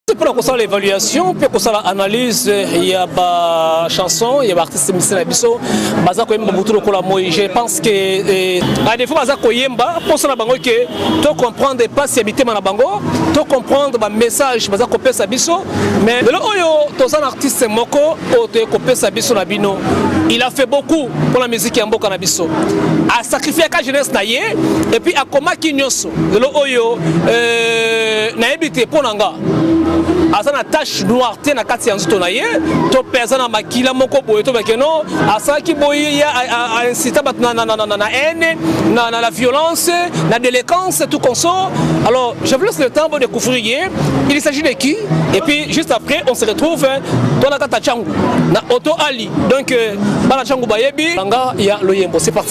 mpona kosala évaluation mpe kosala analyse ya ba chanson ya baartiste misi na biso baza koyemba butu lokola moi je pense que eh, à défaut baza koyemba mposa na bango ke to comprendre mpasi ya mitema na bango to comprendre bamessage baza kopesa biso mais lelo oyo toza na artiste moko oyo toye kopesa biso na bino il a fait beaucoup mpona miziki ya mboka na biso asacrifiaka jeunesse na ye epuis akomaki nyonso lelo oyo euh, nayebi te mpo na nga aza na tache noire te na kati ya nzoto na ye to mpe aza na makila moko boye to bakeno asalaki boye aincita bato na haine na la violence na déléquence tout consort alors je vous laisse le temps pour découvrir ye il s'agit de qui et puis juste après on se retrouve hein, tolakata changu na auto ali donc euh, bana changu bayebi banga ya loyembo c'est parti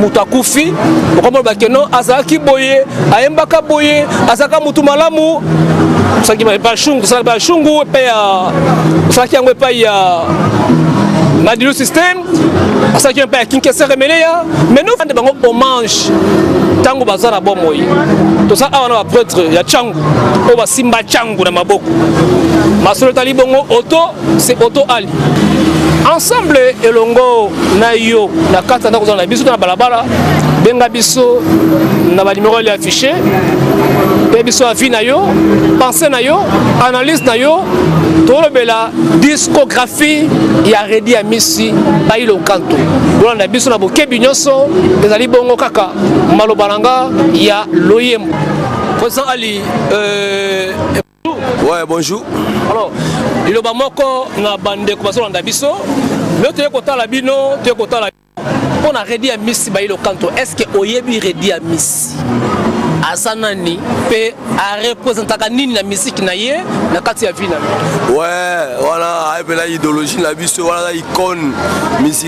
moto akufi okomona bakeno azalaki boye ayembaka boye azalaka motu malamu osalaki bashungu osalaki bashungu epai ya osalaki yango epai ya madilu système asalaki epai ya kinkesere meleya mais nofande bango hommage ntango baza na bomoi toza awa na bapretre ya cangu oyo basimba cangu na maboko masolo etali bongo oto c'est Otto Ali ensemble elongo na yo na kati ya ndako ozala na biso to na balabala benga biso na banimero ya affiche mpe biso avi na yo pense na yo analyse na yo tolobela discographie ya redi ya misi bailo nkanto bolanda biso na bokebi nyonso ezali bongo kaka maloba na nga ya loyembo président ali euh... Ouais, bonjour. Alors, liloba moko na bande ko basolanda biso. Leo toye kotala bino, toye kotala mpo na Redi ya Miss Bayilo Kanto. Est-ce que oyebi Redi ya Miss? aza nani mpe arepresentaka nini na miziki na ye na kati ya vi na ye? Ouais, wana ayebela idéologie na biso wana icone musique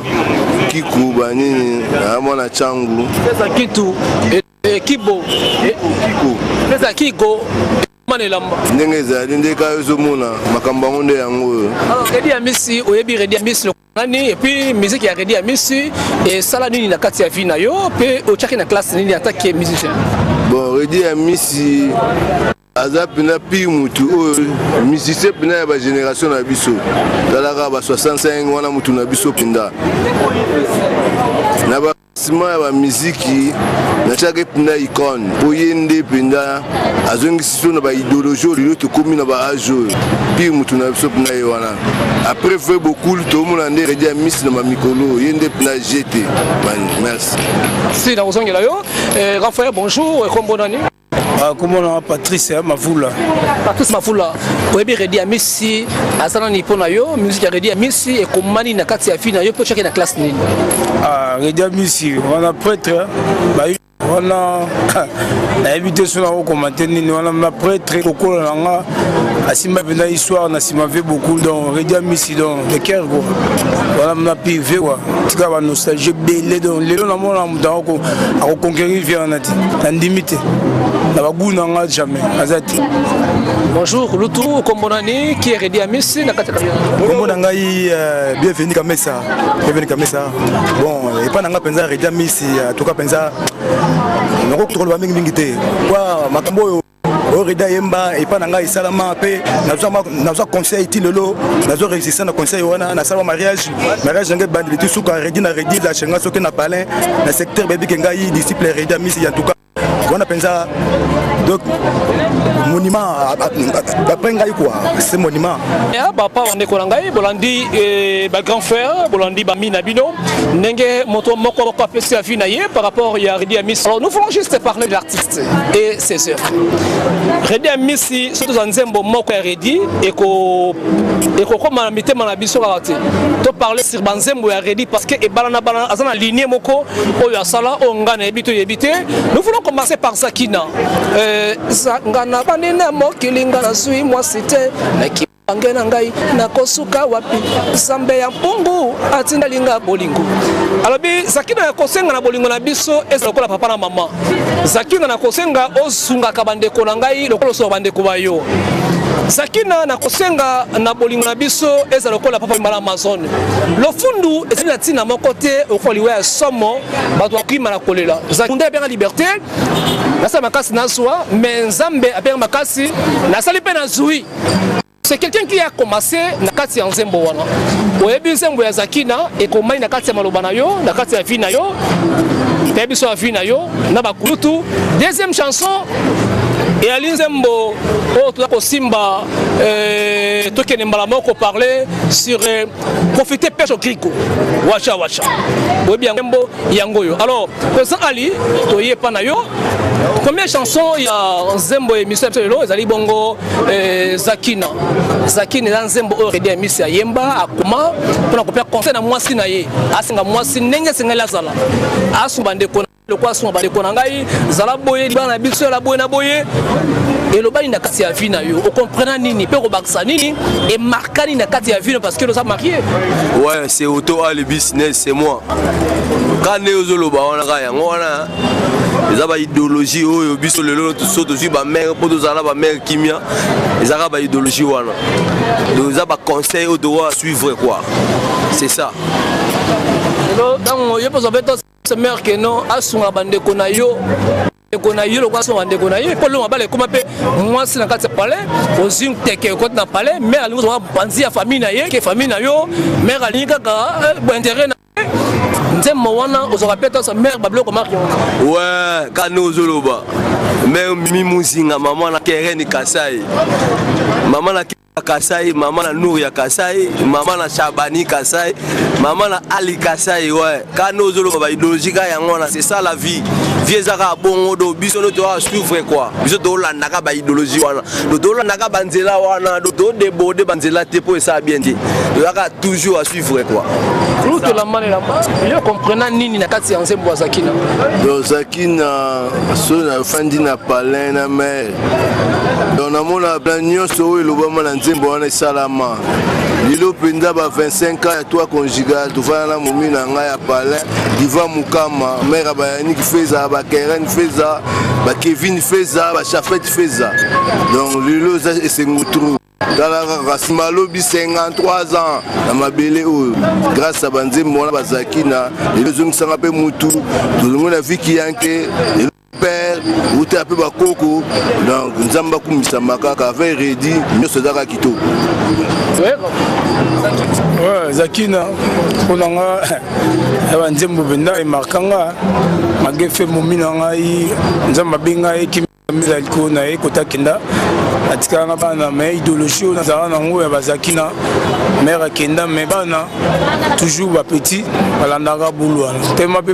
kiku banini na ah, mwana changu pesa kitu eh, eh, kibo eh, kiku pesa kigo ndenge ezali nde kaka ozomona makambo yango nde yango oyo redi amisi oyebi redi amisi nani epuis miziki ya redi amisi esala nini na kati ya vie na yo mpe otyaki na classe nini atake musicien bon redi amisi aza mpena pire mutu oyo musicien mpena ya bagénération na biso talaka ba 65 wana mutu na biso mpenda na basima ya bamiziki natiaki mpenda icone mpo ye nde mpenda azongisi so na baideologie lelo tokomi na baage oyo pire mutu na biso mpena ye wana après vrai bokul tomona nde redi ya misi na mamikolo ye nde mpena jete merci si nakozongela yo eh, rafael bonjour ekombo nani Ah, kombo na patrice eh, mavula patrice mavula oyebi redi ya misi aza nani mpo na yo musike ya redi ya misi ekomani na kati ya vi na yo mpo cake na classe nini ah, redi ya misi wana pretre eh, wana nayebi te so nakokomante nini wana na pretre kokola na nga asimba mpenza histoire na nsima ve beaucoup donc redi amisi donc de ker kua wana mna pive kua tika banostalgie ebele donc lelo namona moto yango akoconquerir vie wana te nandimi te na bagu na nga jamais aza te bonjour lutu nkombo nani kieredi amisi na kati nkombo na ngai euh, bienvenu kamesa bienvenu kamesa bon epai na nga mpenza redi amisi atuka mpenza nakoki koloba mingimingi te kwa makambo oyo orida yemba epa na ngai esalama mpe nazwa conseil ti lelo nazo resiste na conseil wana nasala mariage mariage na ngai ebandi litu suka redi na redi lashe ngai soki na palin na secteur bebike ngai disciple redi ya misi ya tuka wana mpenza donc monument après ngai quoi c'est monument ya bapa bandeko na ngai bolandi eh, bagrand frère bolandi bami na bino ndenge moto moko apesi avis na ye par rapport ya redi ya misi alors nous voulons juste parler de la artiste et ses œuvres. Reddy Amisi soki tozwa nzembo moko ya Reddy ekokoma na mitema na biso kaka te to parle sur banzembo ya Reddy parce que ebalana balana aza na ligne moko oyo asala oyo ngai nayebi to yebi te nous voulons commencer par Zakina euh, nga na bandi na mokili nga nazwi mwasi te Bange na ngai nakosuka wapi? Nzambe ya mpungu atindeli ngai bolingo. Alobi Zakina ya kosenga na bolingo na biso eza lokola papa na mama. Zakina na kosenga osungaka bandeko na ngai lokola osunga bandeko ba yo. Zakina na kosenga na bolingo na biso eza lokola papa mbala Amazon. Lofundu ezali na ntina moko te okola liwa ya somo bato bakima na kolela. Zakunda ebenga liberte nasala makasi nazwa me Nzambe abenga makasi nasali mpe nazwi. c'est quelqu'un qui a commencé na kati ya nzembo wana oyebi nzembo ya zakina ekomai na kati ya maloba na yo na kati ya vie na yo ya biso ya vie na yo na bakulutu deuxième chanson eyali nzembo oyo toza kosimba euh, tokende mbala moko parler sur euh, profite pêche au crico washa washa oyebi yango mbo yango oyo alors président ali toye epa na yo première chanson ya nzembo ya émission ya biso lelo ezali bongo eh, zakina zakina eza nzembo oyo redi amisi ayemba akoma mpona kopea conseil na mwasi na ye asenga mwasi ndenge esengeli azala asunga bandeko lokola suma bandeko na ngai zala boye libala na biso yala boye na boye elobani na kati ya vie na yo okomprena nini mpe okobakisa nini emarkani na kati ya vie no parce que oza marie ouais c'est auto ali business c'est moi ka nde ozoloba wana ka yango wana eza baidéologie oyo biso lelo so tozwi bamere mpo tozala na bamere kimia ezaka baidéologie wana donc eza baconseil oyo tokoka suivre quoi c'est ça lelo ntango yo mpe ozwa mpe mère que non asunga bandeko na yo ndeko na yo lokola asunga bandeko na ye mpo longa bala ekoma mpe mwasi na kati ya palais ozwi nteke okoti na palais mère alingi ozwa banzi ya famille na ye ke famille na yo mère alingi kaka eh, bointere na ye nzembo wana ozwaka mpe tosa mère babiloko marke wana we kani ozoloba mère mimi muzinga mama na kereni kasai mama na Kasai, mama na Nour ya Kasai, mama na Chabani Kasai, mama na Ali Kasai, ouais. Kano ozoloba ba ideologie ka yango wana, c'est ça la vie. Vie ezaka bongo do biso no to souffre quoi. Biso to landa ka ba ideologie wana. Do to landa ka banzela wana, do to debode banzela te po esa bien te. Do yaka toujours à suivre quoi. Nous to la mane la mane. Yo comprena nini na kati ya nzembo azakina. Do zakina so na fandi na palais na mais donc namona bla nyonso oyo elobama na nzembo wana esalama lelo mpenza ba 25 ans ya toi conjugal tofanda na momi na ngai ya palin diva mokama mare ya bayanik feza bakeren feza bakevin feza bachafet feza donc lelo eza esengo trou tala kaka nsima alobi 53 ans na mabele oyo grâce ya banzembo wana bazalaki na lelo ezongisanga mpe motu tolongo na viki yanke père utela mpe bakoko donc nzambe akumisama kaka avec redi nyonso eza kaka kitoko zakina mpo na nga ya banzembo mpenza emarka nga magefe momi na ngai nzambe abe ngai ekimisa likolo na ye kotakenda atikala na bana me idéologie oyo nazala nango ya bazakina mare akenda me bana toujours bapetit balandaka bulu wana tema mpe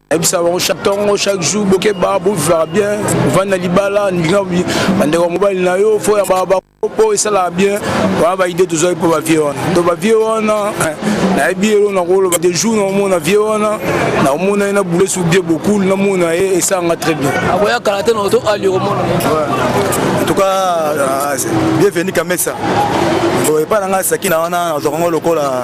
ayebisa bango chaque ntongo chaque jour bokeba bovivaka bien ovandi na libala ndinga bandeko ya mobali na yo fo ya mpo esalaka bien wana baide tozwaki mpo bavie wana to bavie wana eh, nayebi elo nakoloba de jour naomona vie wana naomona ye na boule sur bien bokul namona ye esalanga très bien akoya kala te na oto ali okomona en tout cas euh, bienvenu kamesa epai na ngai sakina wana nazwakango lokola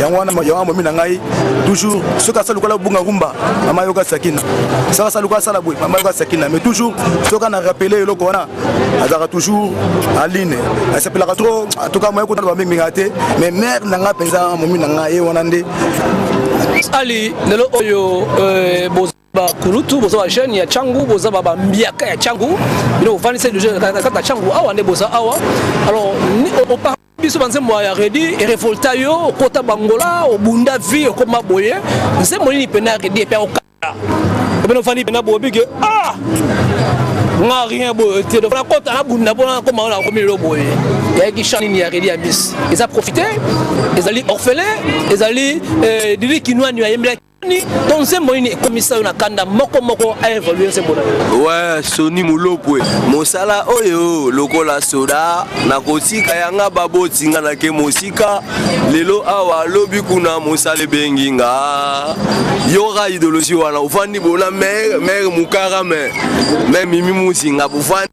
yango wana yango momi na ngai toujours soki asala lokola bunga rumba mama yoka sakina soki asala lokola asala boye mama yoka sakina mais toujours soki ana rappele eloko wana azalaka toujours aline asepelaka trop atoka moye kotala bamingminga te mais mare na ngai mpenza momi na ngai ye wana nde ali lelo oyo euh, bakulutu boza bajeune ya cangu boza bambiaka ya cangu bino bofandisa deja na kati ya cangu awa nde boza awa alors biso banzembo ya redi erevolta yo okota bangola obunda vie okoma boye nzembo nini mpena ya redi epe okata obena ofandi mpena boobike ah nga rien boye te donc nakota nabunda mpona nakoma oyo nakomi lelo boye yayaki chan nini ya redi ya bis eza profite ezali orphelin ezali eh, dili kinoani ayembelaki to nzembo nini ekomisa yo na kanda moko moko aevolue nzembo na yo we soni molopwe mosala oyo lokola soda nakotika yanga baboti nga nake mosika lelo awa lobi kuna mosala ebengi nga yoka idologie wana ofandi bona mere mere mukara me me mimi musinga bofandi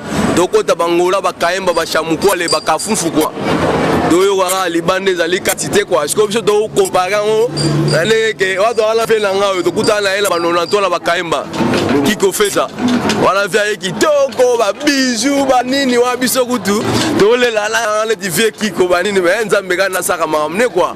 tokota bangola bakayemba bashamukwa le bakafufu kwa toyoka kaka libanda ezali kati te kwa sikoyo biso tokompare yango na ndenge ke wato wana mpe na ngai oyo tokutana na ye na banonanto na bakayemba kikofesa wana mpe aye kitoko babiju banini wana biso kutu tolela na neti vie kiko banini me nzambe kani nasaka makambo ne kwa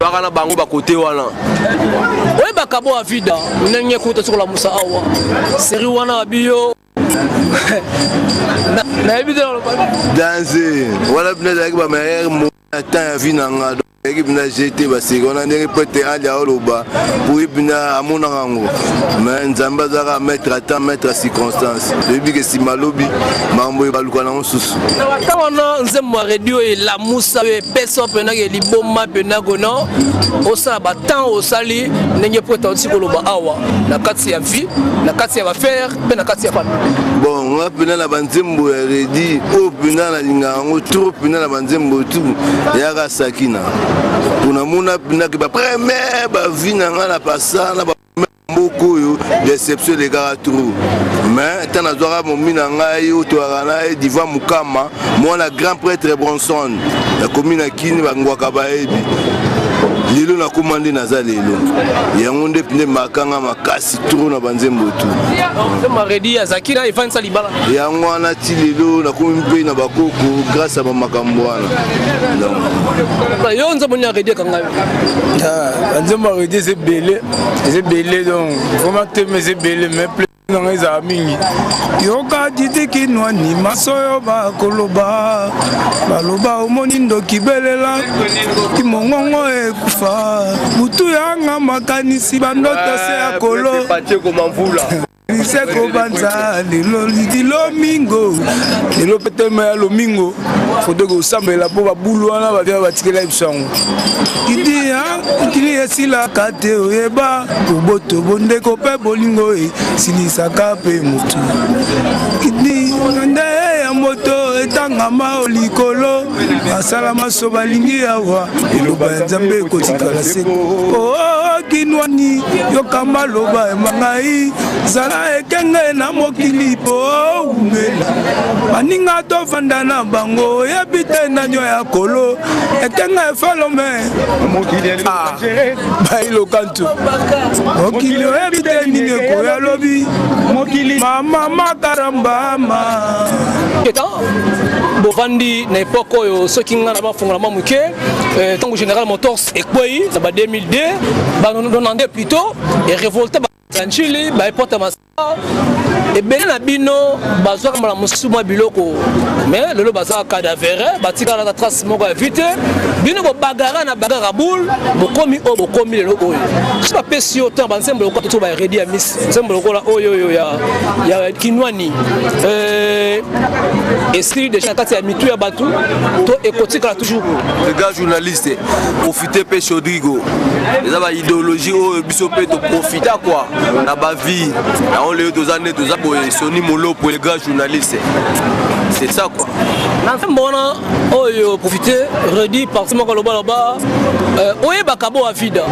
baka na bango bakote wana oye bakabo ya vida ndenge kuta sokola musa awa seri wana ya biyo nayebi te danse wana mpena ezalaki bamayere mo na temps ya vi na nga eki mpena jete baseki wana ndenge pete ali aoloba poye mpena amonaka yango ma nzambe azalaka maître a temps maître a circonstance toyebi ke nsima lobi makambo ebaluka nango susu na bata wana nzembo ya redio elamusa peso mpena ke liboma mpena kona osala batemp osali ndenge mpo eta otiki koloba awa na kati ya vie na kati ya bafere mpe na kati ya papa bon nga mpena na banzembo ya redi oyo mpena nalinga yango tro mpena na banzembo tu yaka sakina mpo namona mpena ke bapremiere bavie na nga na pasa na mboka oyo deception elekaka trop mais ntan nazwaka momi na ngai oyo toyaka na ye diva mokama mwana grand prêtre bronson nakomi na kini bangwaka bayebi lelo nakoma nde naza lelo yango nde nde makanga makasi tro na banzembo tu yango wana ti lelo nakomi mpe na bakoko grâce ya bamakambo wana yo nzembo nini aredi akanga yo ah, nzembo aredi eza ebele eza ebele donc vraimen teme eza ebele mais plesi na ngai ezala mingi yoka ditikinwani masoyo bakoloba baloba omoni ndoki belela kimongongo ekufa butu yanga makanisi bandoto se ya kolo lise kobanza lelo lidi lomingo lelo mpe tema ya lomingo foto ekosambela mpo babulu wana bavya batikela biso yango idiya mokili esilaka te oyeba boboto bondeko mpe bolingo esilisaka mpe motu idi nde ya moto etangama o likolo basala maso balingi awa eloba ya nzambe ekotikala seko okinwani oh, oh, yoka maloba ya mangai zala ekenge na mokili po umela baninga tofanda na bango oyebi te nanyo ya kolo ekenge efolome ah, bailoka mokili oyebi te nini ekoya lobi mokili mama makarambama bovandi na epoke oyo soki ngai na bafongola mwa moke eh, ntango général motors ekwei na ba 2002 banonande plutôt erevolte baanchili baepota ebele na bino bazwaka mbala mosusu mwa biloko me lelo bazaka cadavere batikala na trace moko ya vite bino bobagara na bagara boule bokomi oyo bokomi lelo oyo so bapesi yo temps banzembo lokola toto baredi ya mis nzembo lokola oyo oyo ya kinwani euh, esili deja na kati ya mitu ya bato to ekotikala toujours journaliste te mpe chaudrigo eza ba idéologie oyo biso mpe toprofita kua na bavie yango lelo toza nde toza boye soni molopo le grand journaliste c'est ça quoi na nzembo wana oyo profite redi parti moko alobaloba euh, oyebaka bo avida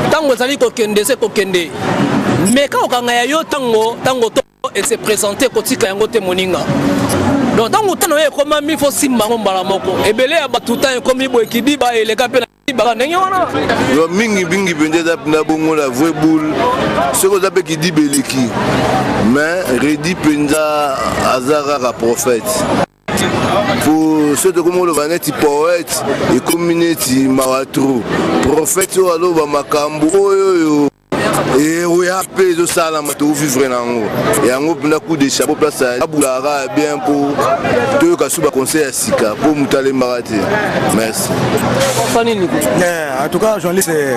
ntango ezali kokende se kokende meka kokanga ya yo ntango ntango et se présenter kotika yango te moninga donc ntango ntana oyo ekomami fo simba yango mbala moko ebele ya bato ntango ekomi boye kibiba eleka mpe baka ndenge wana yo mingi mingi mpenza eza na bongo la vraie boule soki oza mpe kidiba eleki mais redi mpenza aza kaka prophète po soki tokomi oloba neti poète ekomi neti mawa tro prophète oyo aloba makambo oyo oyo eroya eh, mpe ezosalama tovivre na yango yango mpena coup de chapeau place abulaka bien mpo toyoka su baconseil ya sika mpo moto alembaka te merci eh, en tout cas journaliste eh,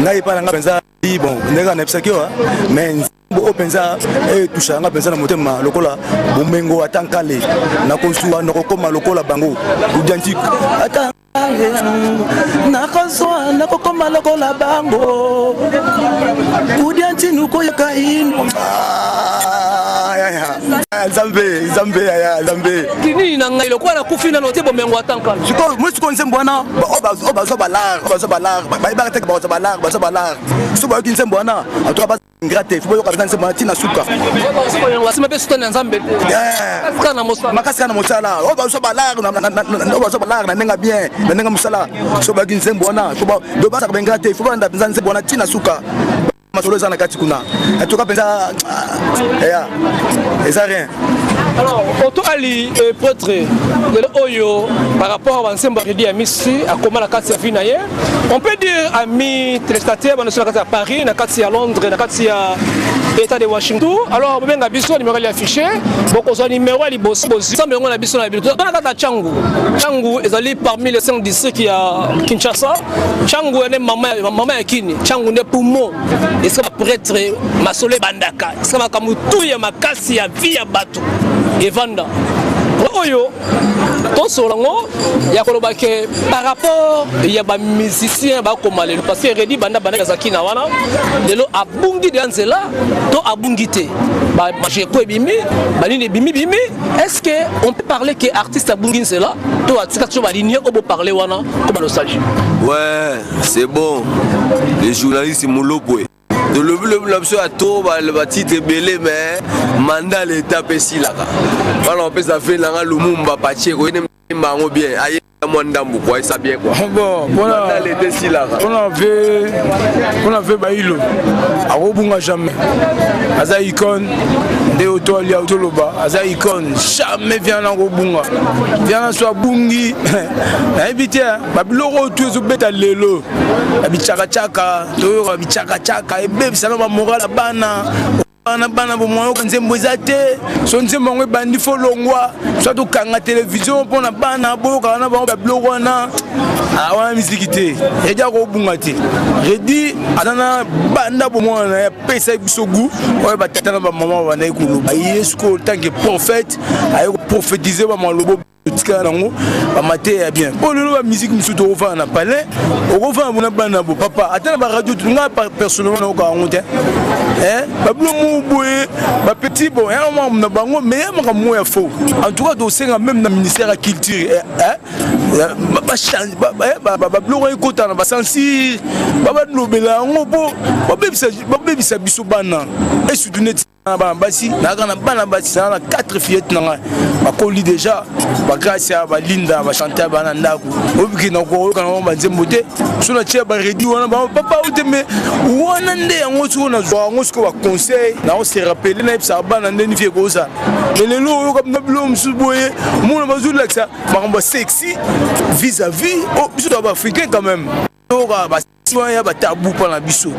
ngai epai na ngai mpenza bon ndenge anayebisaki yo mais oyo oh, mpenza etushaka eh, nga mpenza na motema lokola bomengo ata nkale nakozwa nakokoma lokola bango udiantique ata nakozwa nakokoma lokola bango kudia ntinu koyoka ino nzambe nzambe yaya nzambe kinini na ngai lokola nakufi nano te bomengo atanka sikoyo moi sikoyo nzembo wana oyo bazwa balare bazwa balare bayebaka teke bazwa balare bazwa balare so bayoki nzembo wana atoka ingrate il faut boyoka mpenza nzembo na ntina suka basima mpe sutani ya nzambe makasi kaka na mosala oyo bazo balare oyo bazo balare na ndenge bien na ndenge mosala so bayaki nzembo wana do basaka baingrate il faut balanda mpenza nzembo wana ntina suka masolo eza na kati kuna atoka mpenza eya eza rien alors oto ali eh, pretre lelo oyo par rapport ya bansembo ya redi ya misi akoma na kati ya vi na ye On peut dire amis téléspectateurs bana sur la carte à Paris, na carte à Londres, na carte à État de Washington. Alors bobenga biso numéro ya affiché, bokozwa numéro ya liboso bozwi. Sambe yango na biso na biso. Tona kata Changu. Changu ezali parmi les cinq districts ya Kinshasa. Changu ene mama mama ya Kini. Changu ne poumon. Eska ba prêtre masole bandaka. Eska makambo tout ya makasi ya vie ya bato. Evanda. Oyo tosolo yango ya koloba ke par rapport ya bamusicien bakoma lelo parce que redi banda banda azalaki na wana lelo abungi deya nzela to abungi te bajeko ebimi banini ebimi bimi est ce que on peut parler ke artiste abungi nzela to atika toujours balinie oyo boparle wana to banostalgie ouais c'est bon les journalistes molopwe tolobi lobi na biso ya to batitre ebele me manda leta mpe esilaka wana opesa ve na nga lumumba patie koyemba yango bien aye mwa ndambu kwa esa bien kwa ah bon pona leta esilaka pona ve pona ve bailo akobunga jamais aza icone nde oto alia otoloba aza icone jamais viana akobunga viana so abungi nayebi te babiloko oyo tu ezobeta lelo na bicakacaka toyoka bicakacaka ebebisa na bamoral ya bana bana bana bomoyoka nzembo eza te so nzembo yango ebandi fo longwa so tokanga televizio mpo na bana boyokaka na bango babiloko wana ah, wana miziki te edi akobunga te redi aza na banda bomwana na ye apesa ye biso gu oyo batata na bamama babandaki koloba ye sikoyo tanke prophète aye koprofetize bamalobo tikala nango bamateya ya bien mpo lelo bamiziki mosusu tokofana na palais okofana bona bana bo papa ata na baradio nga personnellement nayoka yango te babino mo boye bapetit bon ya mambo na bango mais ya makambo mo ya faux en tout cas tosenga même na ministère ya culture babiloko ekota na basensi babalobela yango mpo babebisa biso bana esutu neti na bana basi nayaka na bana basi naa na 4 fillette na ngai bakoli déjà bagracia balinda bachante ya bana ndako obiki na koyoka na bango banzembo te so na tie baredi wana bango papa ote me wana nde yango soko nazwa yango soko baconseil nao se rappele nayebisaka bana nde nifi ekozala me lelo oyoka na biloko mosusu boye mona bazolakisa makambo ya sexy vis à vis o oh, biso to baafricain quand même oyoka wana ya batabu mpa na biso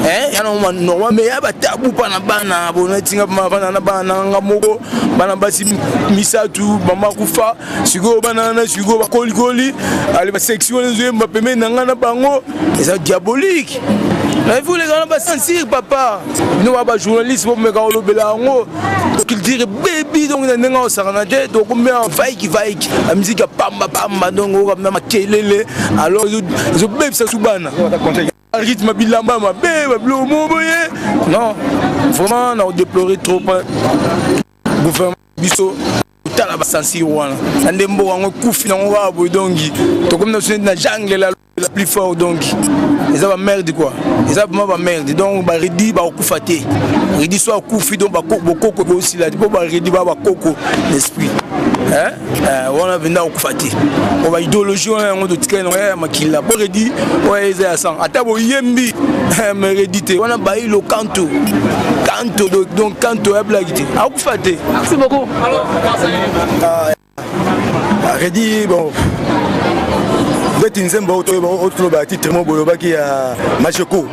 eh, yana normal me ya batabu mpa na bana bona etinga bana na bana na nga moko bana basi misato mama kufa sikoyo bana wana sikoyo bakolikoli ale baseksi wana ezoyemba pembeni na ngai na bango eza diabolique naifulekana basentir papa bino ba bajournaliste bomeka kolobela yango culture bebi donc na ndenge osakana te tokomea vaiki vaiki na miziki ya pamba pamba donc okamina makelele alors ezobebisa su bana rythme bilamba mabe babilo mo boye non vraiment na odeplore trop gouvernement biso tala basansire wana na nde mboka yango ekufi nango kaka boye donki tokomi na sune na jangle la plus fort donc eza ba merde quoi eza vraiment ba merde donc ba redi ba okufa te redi so akufi donc ba koko bokoko ko sila po ba redi ba ba koko l'esprit hein euh, wana venda okufa te ko ba idéologie wana yango totikali na ya makila po redi oya eza ya sang ata boyembi mais redi te wana bayi lo kanto kanto donc kanto ya blague te akufa te merci beaucoup alors Reddy, bon, beti nzembo oyo toyeba oyo tolobaka titre moko bolobaki ya macheko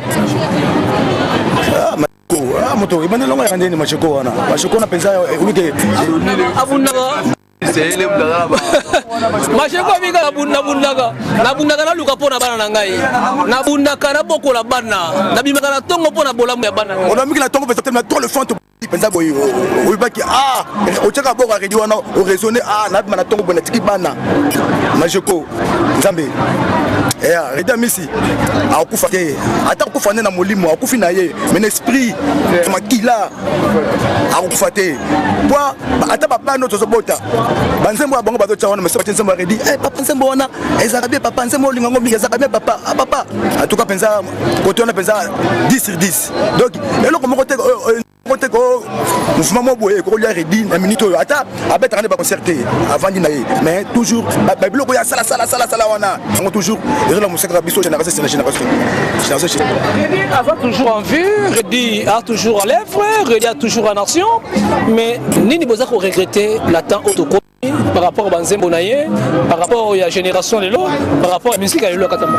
ah, ah, moto ebanda elongo yaka ndeni macheko wana macheko wana mpenza olike abundaka masheko abika nabundaka nabundaka naluka mpo na bana na ngai nabundaka nabokola bana nabimaka na ntongo mpo na bolamu ya bana onamiki na ntongo mpe zatema to le fante penza boye oyebaki ah otyaka boko aredi wana oraisonne ah nabima na ntongo boye natiki bana majeko nzambe eh, redi amisi akufa te ata akufa nde na molimo akufi na ye me na esprit makila akufa te po ata babano tozobota banzembo ya bango bazotya wana mesi batye nzembo ya redi eh, papa nzembo wana ezalaka bie papa nzembo olinga ngo mingi ezalaka bie papa ah, papa atuka mpenza kote wana mpenza 10 sur 10 donc eloko moko te moko te ko mouvement moko boye kokolia redi na minute oyo ata abetaka nde baconcert te avandi na ye mais toujours babiloko ya salasalasala wana yango toujours ezola mosaka kaka biso génération sena génération génération avant toujours en vue redi a toujours en lèvre redi a toujours en action mais nini boza ko regretter na temps oyo toko par rapport à Banzembo Naye, par rapport à la génération Lelo, par rapport à la musique à Lelo Katamba.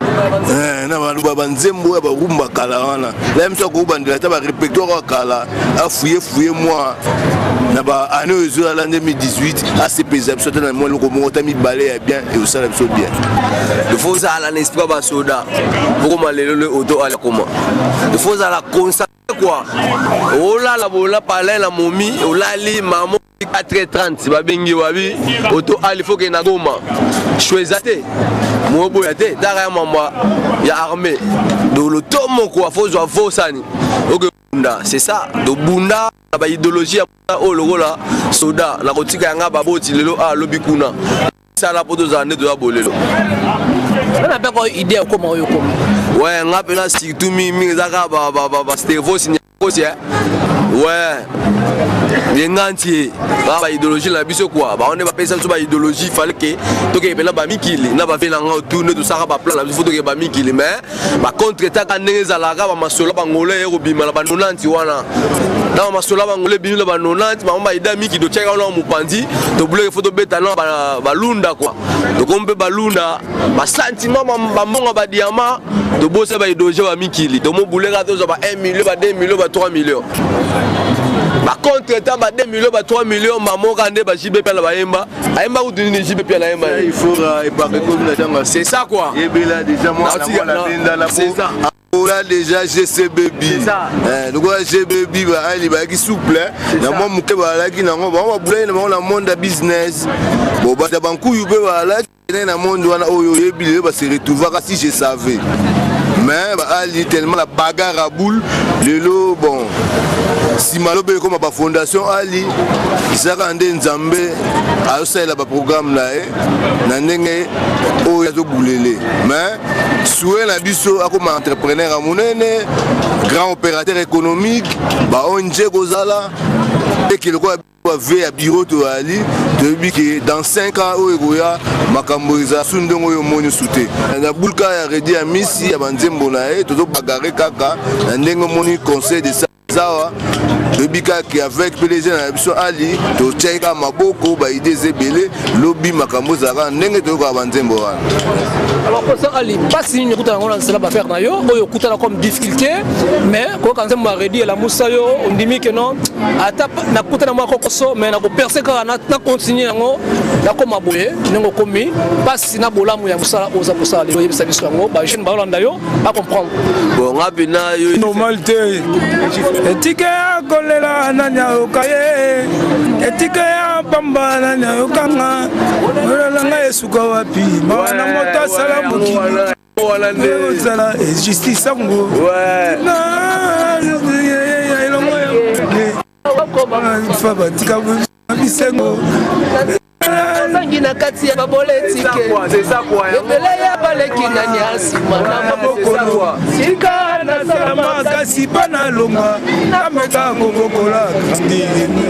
Eh, na baluba banzembo ya barumba kala wana na ye mosu akobandela ata barepertoire ya kala afuye fuye mwa na baane oyo ezolala nde 2018 asepelisa biso ata na mwa eloko moko ta mibale ya bien ekosala biso bien ifo ozala na esprit ya basoda okoma lelo le oto alakoma ifo ozala consacre kua olala bola palai na momi olali mamo 4h30 babengi wabi oto ali foke na goma sho eza te moboya te taka ya mambo ya armée dolo to moko afozwa vosani okebunda c'est ça tobunda na baidéologie ya oyo lokola soda na kotika yanga baboti lelo a ah, lobi kuna sala mpo tozala nde toza bolelo wana mpe ko idée okoma oyo okoma we nga mpena surtout mingi ezaka bastervos kosi eh? ouais yengantie ba ba idéologie na biso quoi ba on est ba pesa biso ba idéologie fallait que toke pena ba mikili na ba vela nga tout ne tout ça ba plan na biso toke ba mikili mais ba contre ta ka ndenge zala ka ba masolo ba ngolo yero bima na ba nonanti wana na masolo ba ngolo bima na ba nonanti ba ba ida miki do cheka na mupanzi to bloque photo beta na ba balunda quoi to kombe balunda ba sentiment ba mbongo ba diamant to bosa ba idoje ba mikili to mobuleka to ba 1 million ba 2 million ba 3 million ba contre temps ba 2 million ba 3 million mamoka nde ba JB pela ba yemba ayemba ou dini JB pela yemba il faut euh, épargner comme la tanga c'est ça quoi et bela déjà moi la la benda la c'est ça ola déjà gc baby eh, lokola g baby baali bayaki souple na mwa moke baalaki nango bango babulaki na bango na monde ya business bobata bankuyu mpe baalaki Kende na monde wana oyo oyebi lelo ba se retrouvaka si je savais. Mais ba ali tellement la bagarre à boule lelo bon nsima lobi ekoma bafondation ali ezalaka nde nzambe azosalela baprograme na ye na ndenge oyo azobulele mais sue na biso akoma entrepreneur ya monene grand opérateur économique baong kozala eke lokola bave ya biro toyali toyebi ke dans 5 ans oyo ekoya makambo eza su ndenge oyo omoni su te na bulka ya redi ya misi ya banzembo na ye tozobagare kaka na ndenge omoni conseil de sa zawa toyebi kaka avec pdg na biso ali totyaki kaka maboko baide eza ebele lobi makambo ezalaka ndenge toyokaka banzembo wana alors professeur ali mpasi nini okutana yango na nsela bafere na yo oyo okutana comme te mais koyoka nzembo ya redi elamusa yo ondimi ke non ata nakuta na mwa kokoso mais nakoperse kaka na continue yango nakoma boye ndenge okomi mpasi na bolamu ya mosala oyo oza kosala lelo oyebisa biso yango bajeune baolanda yo bacomprendre bonga mpena yo normal te etike ya kolela nani ayoka ye etike ya pamba nani ayokanga olelanga esuka wapi mawa na moto asala mokili wana nde ozala justice yango fa batika bisengo bangi na kati ya baboletike ebele ya baleki na nyasi tika nasala makasi mpo nalonga nameka kobokola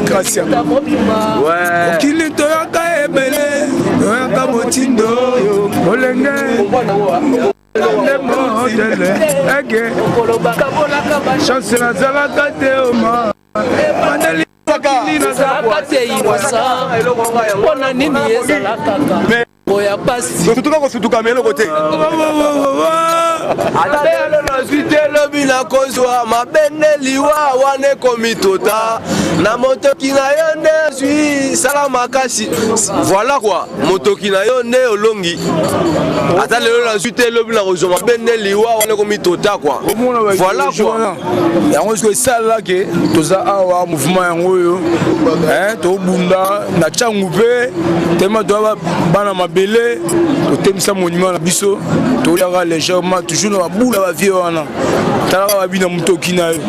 kasi mokili toyaka ebele toyaka motindo oyo olenge nde motele ege chance nazalaka te oma bandeli mpona nini ezalaka ya pasi kosutuka kosutuka me eloko te ata lelo nazwi te lobi nakozwa mabende liwa wana ekomitota na motoki na yo nde azwi sala makasi voilà kua motoki na yo nde olongi ata lelo nazwi te elobi na kozwa mabe nde liwa wana ekomi tota kua voilà kua yango siko esalala ke toza awa mouvement yango oyo tobunda na cangu mpe tema toya bana mabele totemisa monument na biso toyaka légèrement toujours na babula bavie wana talaka babi na motoki na yo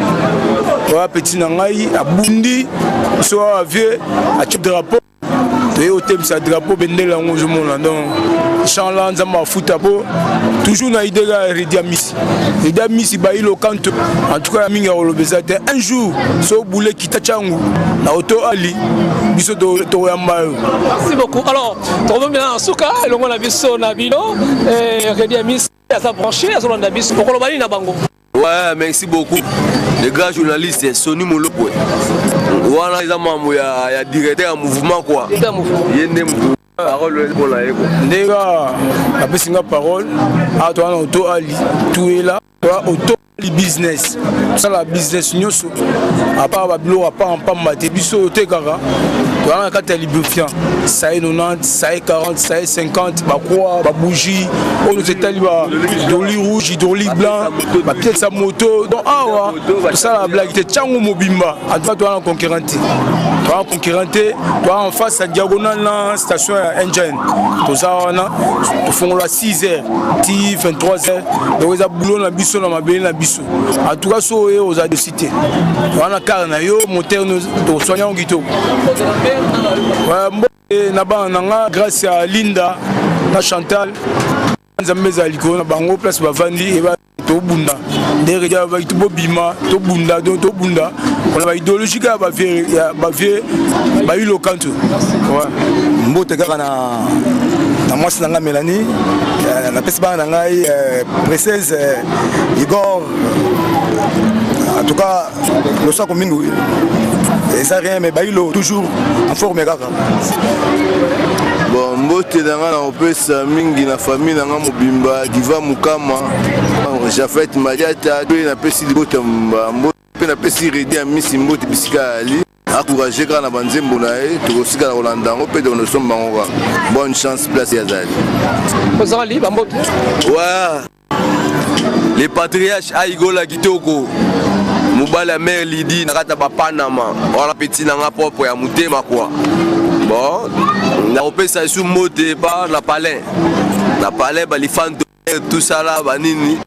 oya peti na ngai abundi so awa vie atie drapeau toye kotemisa drapeau bendele yango ozomona donc champ la nzambe afuta po toujours na idee ya redi ya misi redi ya misi bayi lokanto en tout cas ya mingi ya koloba eza te un jour so obule kita cangu na oto ali biso tokoyamba yo merci beaucoup alors tokomemela na suka elongo na biso na bino eh, redi ya misi aza branche azolanda biso okoloba nini na bango Ouais, merci beaucoup. Le grand journaliste Sony Molopwe. Wana eza mambo ya ya directeur ya mouvement quoi. Ye nde mouvement. Parole pour la eko. Ndenge apesi nga parole, ato wana oto ali tuela, oto ali business. Sala business nyonso apart babiloko apart mpamba te biso oyo tekaka toyaka na kati ya lubrifiant saye 90 saye 40 saye 50 bakwa babougie oyo nyonso etali badoli rouge hydroli blanc bapiese ya moto donc awa tosalaka blage te ntango mobimba antuka toyaka na concurrent te toyaka concurrent te toyaka en face ya diagonal na station ya engine toza wana tofongola 6 heures ti 23 heures donc eza boulot na biso na mabele na biso en tout cas so oye oza dosi te wana kare na yo motere toswani yango kitoko mbote na bana na nga grâce ya linda na chantal nzambe ezala likolo na bango place bavandi eba tobunda ndenge ja baki tobobima tobunda donc tobunda mpona baidéologie kaka bavie bayilokantu mbote kaka na na mwasi na ngai melani eh, napesi bana na ngai eh, presese eh, igor en tout cas losako mingi eza rien mais bailo toujours en forme kaka bon mbote na ngai nakopesa mingi na famille na ngai mobimba diva mokama jafet madiata mpe napesi libota mbote mpe napesi redi ya misi mbote bisika ali encourage kaka na banzembo na ye tokosikana kolanda yango mpe tokonosomba yango kaka bonne chance place ye azali ozali bamboki wa le patriarche aigola kitoko mobali ya mare lidi na kati ya bapanama wana peti na nga propre ya motema kua bon nakopesa esu mbote epa na palin na palin balifanto tout ça là banini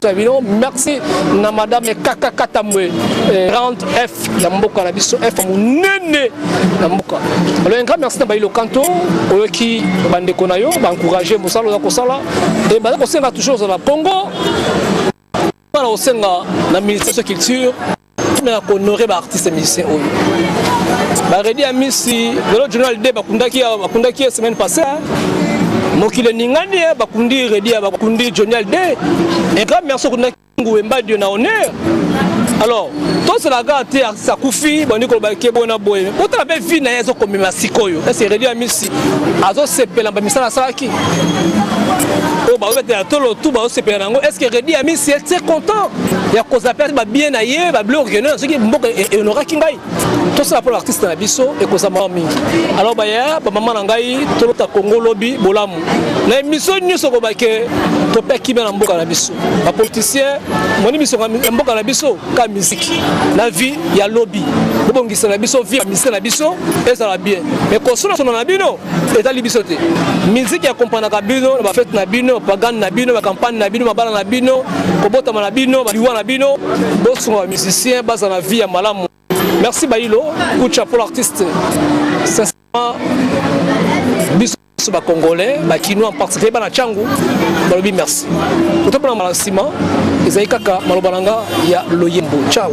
bino merci na madame kaka katambwe eh, grande f ya mboka na biso f monene na mboka alors un grand merci na bailo kanto oyoki bandeko na yo baencourage mosala oza kosala e baza kosenga toujours ozala congo bana kosenga na ministre ya culture ntina ya kohonore baartiste musicien oyo baredi ya misi lelo journal d bakundaki bakundaki ye semaine passé mokili eningani ye bakundi redi ya bakundi journal d un grand merci okundaki nguwe mbadio na honneur alors tosala kaka te artiste akufi bandi koloba ke boye na boye botala mpe vi na ye ezokomema sikoyo ese redi ya misi azosepela mpe misala asalaki oyo bazobetela tolo tu bazosepela na yango est ce que redi ami si ete content ya kozala mpe babie na ye bablo orgueilleux soki mboka e- e- ehonoraki ngai tosala mpo na artiste na biso ekozala mawa mingi alors baya bamama na ngai tolota kongo lobi bolamu na emission nyonso koba ke topia kimia na mboka na biso bapoliticien moni misonga ya mboka na biso ka miziki na vie ya lobi bobongisa na biso vie ya misike na biso ezala bien mais kosolosolo na bino etali biso te miziki ya kompanaka bino na bafete na bino pagane na bino bakampagne na bino mabala na bino kobotama na bino baliwa na bino bosunga bamusicien bazala na vie ya malamu merci bailo kucha pol artiste sincèrement biso biso bacongolais bakinois en particulier bana cangu balobi merci otompona mbala nsima ezali kaka maloba na nga ya loyembo ciao